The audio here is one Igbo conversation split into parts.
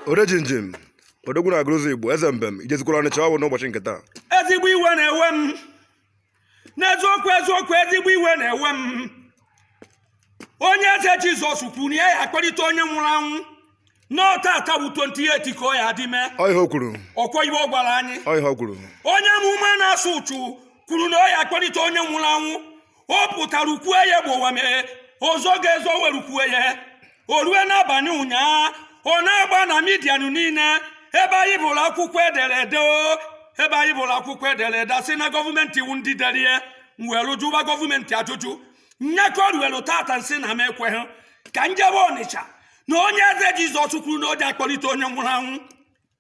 orejinjin odogwu na agụrụzi igbo eze mbem i jezikwara ọnịcha ọ bụ n'ụbọchị nke taa ezigbo iwe na-ewe m n'eziokwu eziokwu ezigbo iwe na-ewe m onye eze jizọs kwuru na ya ya-akpọlite onye nwụrụ anwụ na tata bụ 28 ka ọ ya-eji mee ọ ihe o kwuru ọkwa ihe ọ gwara anyị ọ ihe o kwuru onye amụma na-asụ ụchụ kwuru na ọ ya-akpọlite onye nwụrụ anwụ ọ pụtarụ kwue ya gbowam o zoghị ezo weru kwue ya o rue n'abalị ụnyaa ọ na-agba na midia niile ebe anyị bụrụ akwụkwọ e dere ede o ebe anyị bụrụ akwụkwọ e dere ede a sị na gọọmenti wụ ndị dere ya m welu jụwa gọọmenti ajụjụ nya ka o ruelu tata nsị na m ekweghị ka njebe ọnịcha na onye eze jizọs kwuru na o ji akpọlite onye nwụrụ anwụ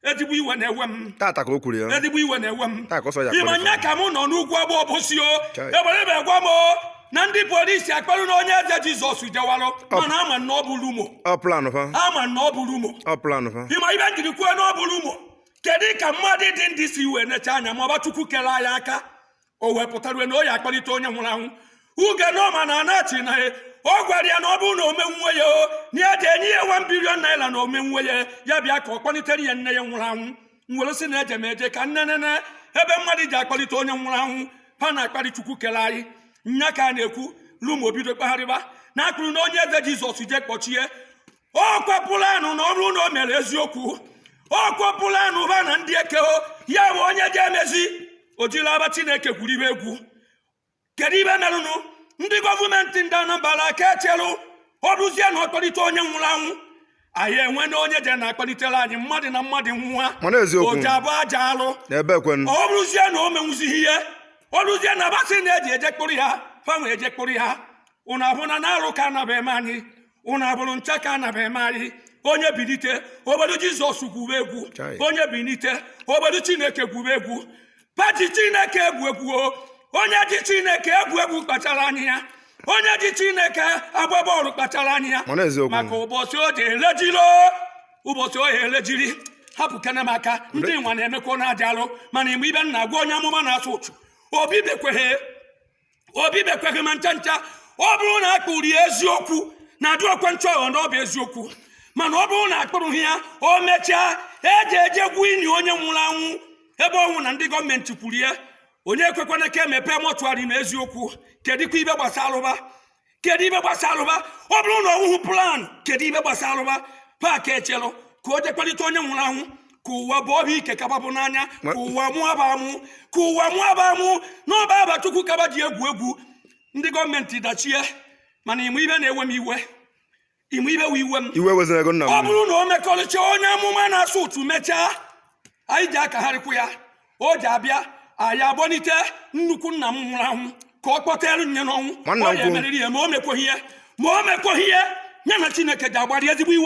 ezigbo iwe na-ewe m tata ka o kwuru ya ezigbo iwe na-ewe m taa ka ọsọ ya ịma kpọrọ nya ka mụ nọ n'ugwuagba obosi o Chai. egbere m egwa m o na ndị polisi akpụrụna onye eze jizọs jewarụ mana a ma na ọ bụ rumo ọ planụ fa a ma na ọ bụ rumo ọ planụ fa ị ma ibe njiri kwuo na ọ bụ rumo kedu ka mmadụ dị ndụ si wee necha anya ma aba chukwu kere anyị aka o wee pụtarue na ọ ya-akpọlite onye nwụrụ anwụ uge n'ọma na anachi na ya ọ gwara ya na ọ bụrụ na o menwuo ya o na ya ji enye ya wan bilion naira na o menwuo ya ya bịa ka ọ kpọlitere ya nne ya nwụrụ anwụ m were sị na eje m eje ka nje nene ebe mmadụ ji akpọlite onye nwụrụ anwụ ha na-akparị chukwu kere anyị nya ka a na-ekwu rumo bido kpagharịba na akpụrụna onye eze jizọs je kpọchie ọkwa planụ na ọ rụ na o mere eziokwu ọkwa planụ ha na ndị ekeho ya bụ onye ga-emezi o jiri aba chineke gwuru ibe egwu kedu ibe merụnụ ndị gọọmenti ndị anambra a ka echelụ ọ rụzie na ọ kpọlite onye nwụrụ anwụ anyị enwena onye je na-akpọlitere anyị mmadụ na mmadụ nwa mana eziokwu o ji abụ aja alụ ebe ekwenụ ọ rụzie na o menwuzighị ihe ọ rụzie na ba sị na eji eje kpụrụ ya fa wee je kpụrụ ya ụnụ ahụna na arụ ka anaba eme anyị ụnụ abụrụ ncha ka anaba eme anyị onye bilite o welu jizọs gwuru egwu onye bilite o welu chineke gwuru egwu fa ji chineke egwu egwu onye ji chineke egwu egwu kpachara anya ya onye ji chineke agba bọọlụ kpachara anya ya maka ụbọchị o ji elejiri ụbọchị o elejiri hapụkene m aka ndị nwa na-emekwa na aja alụ mana ị ma ibe n na-agwa onye amụma na-asụ ụchụ o bibekweghị o bibekweghị ma ncha ncha ọ bụrụ na a kpụrụ ya eziokwu na adị ọkwa ncheghọ na ọ bụ eziokwu mana ọ bụrụ na a kpụrụghị ya o mechaa eji eje gwuo ini onye nwụrụ anwụ ebe ọ wụ na ndị gọọmenti kwuru ya onye ekwekwana ka e mepee mọchụarị na eziokwu kedụkwa ibe gbasarụ ba kedu ibe gbasarụ ba ọ bụrụ na ọ wụhụ plan kedu ibe gbasarụ ba fa aka echelụ ka o je kpọlite onye nwụrụ anwụ ka ụwa bụ ọhịa ike ka ba bụ n'anya ka ụwa mụa ba amụ ka ụwa mụa ba amụ na ọ bụ aba chukwu ka ba ji egwu egwu ndị gọọmenti dachie mana ị ma ibe na-ewe m iwe ime ibe wee iwe m ọ bụrụ na o mekọrịcha onye amụma na-asụ ụtụ mechaa anyị ji akagharịkwu ya o ji abịa anyị abọnite nnukwu nna m nwụrụ anwụ ka ọ kpọtere nye n'ọnwụ ọ ya emeriri ya ma o mekweghị ya ma o mekweghị ya ya na chineke ji agbara ezigbo iwe